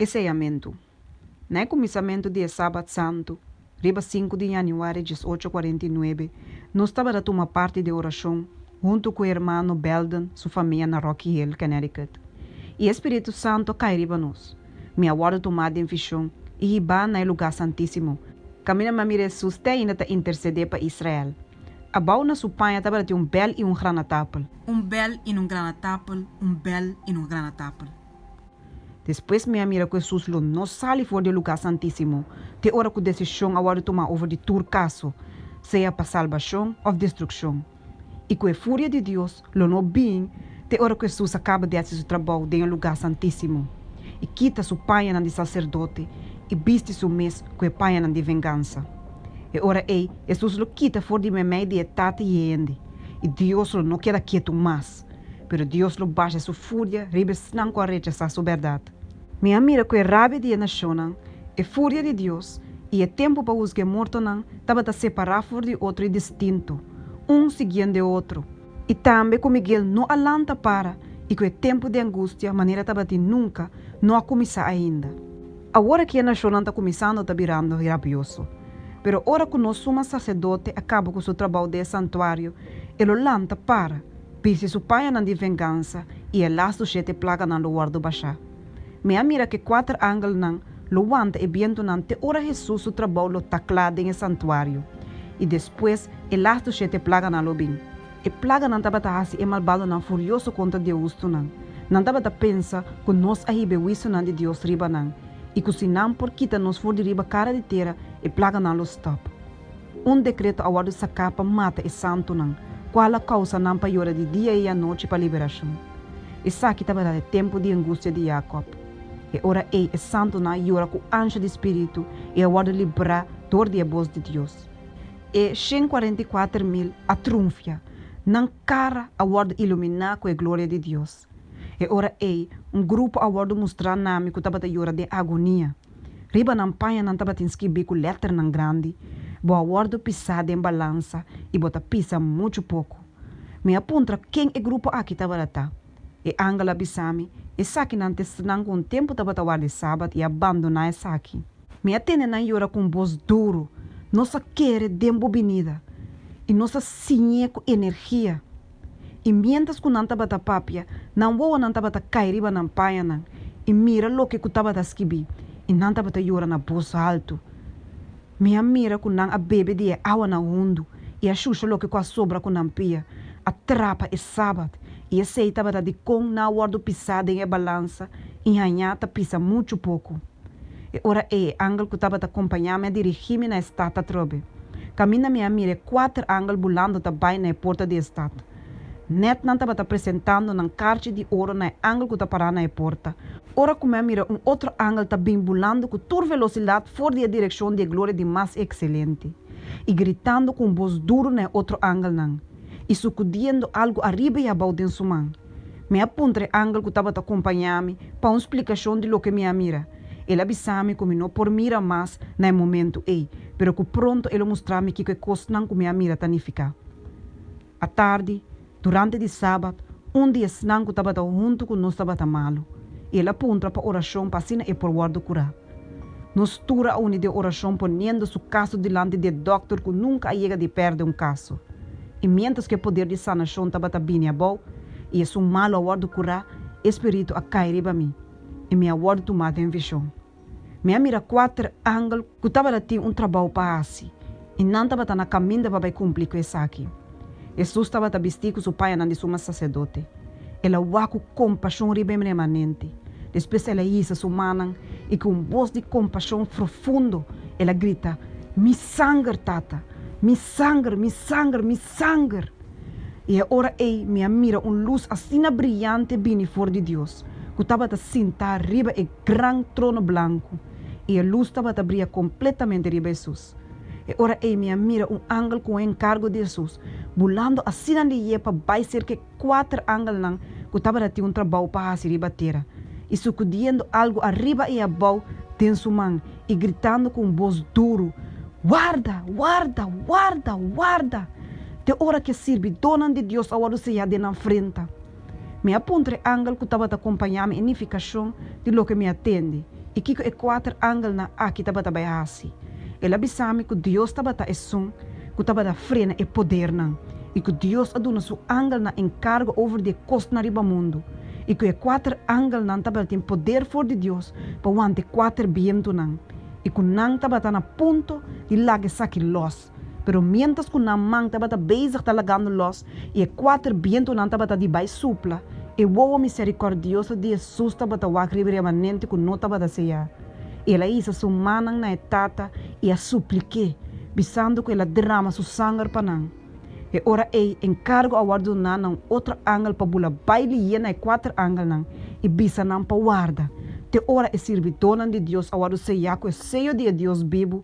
E señamentu. Na e kuminsamentu di e Sabat Santu, riba sinku di yanüari dies ocho kuarenta i nuebe, nos tabata tuma parti di e orashon huntu ku e hermano Belden su famia na Rocky Hill, Connecticut. I e spiritu santu a kai riba nos. Mi a wòrdu tumá den vishon i hibá na e lugá santísimo. Kaminda mi a mira Hesus te ainda ta intersedé pa Israel. Abou na su paña tabata tin un bèl i un granatapel. un bèl i nun granatapel, un bèl i nun granatapel. Despues mi a mira ku Hesus lo no sali for di e lugá santísimo te ora ku desishon a wòrdu tumá over di tur kaso, sea pa salbashon òf destrukshon, i ku e furia di Dios lo no bin te ora ku Hesus a kaba di hasi su trabou den e lugá santísimo i kita su pañanan di saserdote i bisti su mes ku e pañanan di vengansa. E ora ei Hesus lo kita for di meimei di e tata i e hende. i Dios lo no keda ketu mas, pero Dios lo basha su furia riba esnan ku a rechasá su bèrdat. Mi a mira ku e rabia di e nashonnan, e furia di Dios i e tempu pa husga e mortonan tabata separá for di otro i distintu, un siguiendo e otro, i tambe ku Miguel no a lanta para i ku e tempu di angustia manera tabatin nunka no a kuminsá ainda. Awor aki e nashonnan ta kuminsando ta birando rabioso. Pero ora ku nos suma saserdote a kaba ku su trabou den e santuario, e lo lanta para, bisti su pañanan di vengansa i e las su shete plaganan lo wòrdu bashá. Mi a mira ku e kuater angelnan lo wanta e bientunan te ora Hesus su trabou lo ta kla den e santuario, i despues e las su shete plaganan lo bin. E plaganan tabata hasi e malbadonan furioso kontra diehustunan. Nan tabata pensa ku nos a hib'e huisionan di Dios riba nan i ku si nan por kita nos for di riba kara di tera, e plaganan lo stòp. Un dekreto a wòrdu saká pa mata e santunan, kual a kousa nan pa yora di dia i anochi pa liberashon. Esaki tabata e tempu di angustia di Yakòb. E ora ei e santunan a yora ku ansha di spiritu i a wòrdu librá dor di e bos di Dios. E shen kuarenta i kuater mil a trunfia, nan kara a wòrdu iluminá ku e gloria di Dios. E ora ei, un grupo a wòrdu mustrá na mi ku tabata yora den agonia. Riba nan paña nan tabatin skirbí ku lèternan grandi, Bo a wòrdu pisá den balansa i bo ta pisa muchu poku. Mi a puntra ken e grupo aki tabata ta. E angel a bisa mi, Esakinan ta esnanan ku un tempu tabata warda e Sabat i a bandoná esaki. Mi a tene nan yora ku un bos duru, Nos a kere den bo binida, i nos a siñ'é ku energia. I miéntras ku nan tabata papia, nan wowonan tabata kai riba nan pañanan i mira loke ku tabata skibí, i nan tabata yora na bos haltu. Mi a mira ku nan a bebe di e awanan hundu i a shusha loke ku a sobra ku nan pia, a trapa e sabat, i esei tabata di kon nan a wòrdu pisá den e balansa i hañá ta pisa muchu poku. E ora ei e angel ku tabata kompañá mi a dirigí mi na e stat atrobe. Kaminda mi a mira e kuater angel bulando ta bai na e porta di e stat. Nèt nan tabata presentando nan karchi di oro na e angel ku ta pará na e porta. Ora ku mi a mira un otro angel ta bin bulando ku tur velosidat for di e direkshon di e gloria di Mas Ekselente, i gritando ku un bos duru na e otro angelnan, i sukudiendo algu ariba i abou den su man. Mi a puntra e angel ku tabata kompañá mi pa un splikashon di loke mi a mira. El a bisa mi ku mi no por mira mas na e momentu ei, pero ku pronto e lo mustra mi kiko e kosnan ku mi a mira ta nifiká. Atardi, durante di Sabat, un di esnan ku tabata huntu ku nos tabata malu, i el a puntra pa orashon pa asina e por wòrdu kurá. Nos tur a uni den oracion poniendo su caso dilanti di e doctor cu nunca a yega di perde un caso. Y mientras cu e poder di sanacion tabata bini abao y esun malo a wordo cura, e spiritu a cay riba mi y mi a wordo tuma den vision. Mi a mira cuater angel cu tabata tin un trabao pa haci. I nan tabata na kaminda pa bai kumpli ku esaki. Hesus tabata bistí ku su payanan di suma saserdote. El a wak ku kompashon riba e remanente. Despues el a hisa su mannan i ku un bos di kompashon frufundo el a grita, Mi sanger, Tata! Mi sanger, mi sanger, mi sanger! I e ora ei mi a mira un lus asina briante bini for di Dios, ku tabata sintá riba e gran trono blanku, i e lus tabata bria kompletamente riba Hesus. E ora ei mi a mira un angel ku un enkargo di Hesus bulando asina di ie pa bai serka e kuater angelnan ku tabata tin un trabou pa hasi riba tera, i sukudiendo algu ariba i abou den su man, i gritando ku un bos duru, Warda, warda, warda, warda, te ora ku e sirbidónan di Dios a wòrdu sellá den nan frenta! Mi a puntra e angel ku tabata kompañá mi e nifikashon di loke mi a tende i kiko e kuater angelnan aki tabata bai hasi. El a bisa mi ku Dios tabata Esun ku tabata frena e podernan i ku Dios a duna su angelnan enkargo over di e kosnan riba mundu i ku e kuater angelnan tabatin poder for di Dios pa wanta e kuater bientunan i ku nan tabata na punto di laga esaki lòs. Pero miéntras ku nan man tabata bezig ta lagando lòs i e kuater bientunan tabata di bai supla, e wowo miserikòrdioso di Hesus tabata wak riba remanente ku no tabata seá. El a hisa su mannan na e Tata i a suplik'é, bisando ku el a derama su sanger pa nan. E ora ei, enkargo a wòrdu duná na un otro angel pa bula bai lié na e kuater angelnan i bisa nan pa warda te ora e sirbidónan di Dios a wòrdu seá ku e seyo di e Dios bibu,